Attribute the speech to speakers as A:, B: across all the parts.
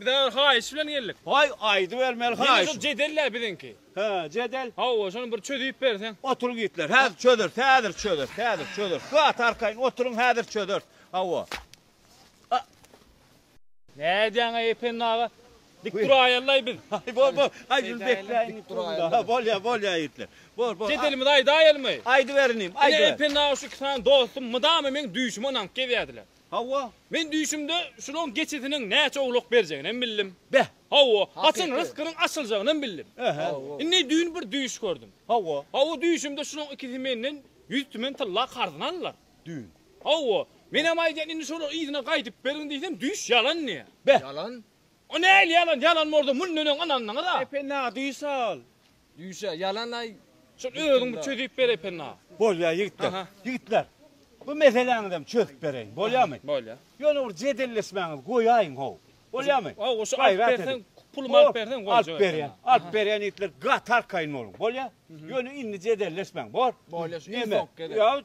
A: Biz agyr haýyş bilen geldik. Haý, aýdybermeli haýyş. Ýene şol jedel-le biziňki. Hä, jedel. Hawa, şony bir çözüp berseň. Oturyň ýigitler, häzir çözeris, häzir çözeris, häzir çözeris. Gat arkaýyn oturyň, häzir çözeris. Hawa. Nä edýäň-aý, Ependi aga? Dik duraýaly-laý biz. Haý, bor, bor. Haý, şuny bekläýin ýigit durumda. Haý, bolýar, bolýar ýigitler. Bor, bor. Jedelimizi aýdaýalymy? Aýdyberiň inim, aýdyberiň. Ine, Ependi aga, şu iki sany dostum mydama meň düýşüme ynanyp gezýärdiler. Hawa, men düýşümde şulaň geçisiniň näçe owlak berjeginem bildim. Beh, hawa, haçan ryskynyň açyljagynam bildim. Indi düýn bir düýş gördüm. Hawa. Hawa, düýşümde şulaň ikisi menden ýüz tümen tylla karzyny aldylar. Düýn. Hawa, menem aýdýan indi şolary yzyna gaýdyp beriň diýsem düýş ýalan diýýär. Beh. Ýalan? O nähili ýalan? Ýalan bolsa mundan öň ynandyňyz-a. Epe, nä düýş-al? Düýşe ýalan aý. Şol özüň bir çözüp ber Ependä. Bolýar ýigitler. Ýigitler. Bu meseläňizem çözüp bereýin. Bolýarmy? Bolýar. Ýöne bir jedelleşmäňizi goýaýyň how. Bolýarmy? Hawa goşa alyp berseň, pulumy alyp berseň goýjak. Alyp berýän. Alyp berýän ýigitler gaty arkaýyn boluň. Bolýar? Ýöne indi jedelleşmäň. Bor? Bolýar. Iň soňky gezek.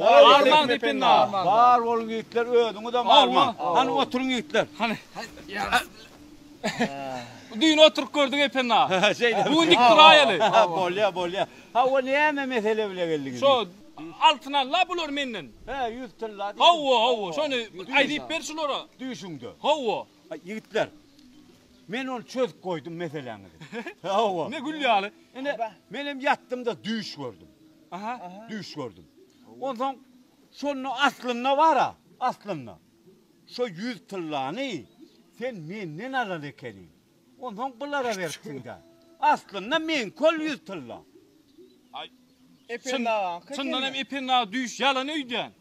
A: Arman dipinde arman. Bar boluň ýigitler özüňizem arman. Hany oturyň ýigitler. Hany. Düýn oturyp gördük Epenna. Bu gün dik duraýaly. Bolýa bolýa. Hawa näme mesele bile geldiňiz. Şo Altyn Alla bular menden. He ýüz tylla. Hawa hawa şony aýdyp ber şulara. Düýşüňde. Hawa. Ýigitler. Men ony çözüp goýdum meseläňizi. Hawa. Ne gül ýaly. Ine menem ýatdymda düýş gördüm. Aha, düýş gördüm. Onsoň şonda aslynda bar-a, aslynda. Şo ýüz tyllany sen menden alan ekeniň. Onsoň bulara beripsiň-dä. Aslynda meňki ol ýüz tylla. Ependi agaňky ekeni. Çyndanam Ependi aga düýş ýalan öýdýän.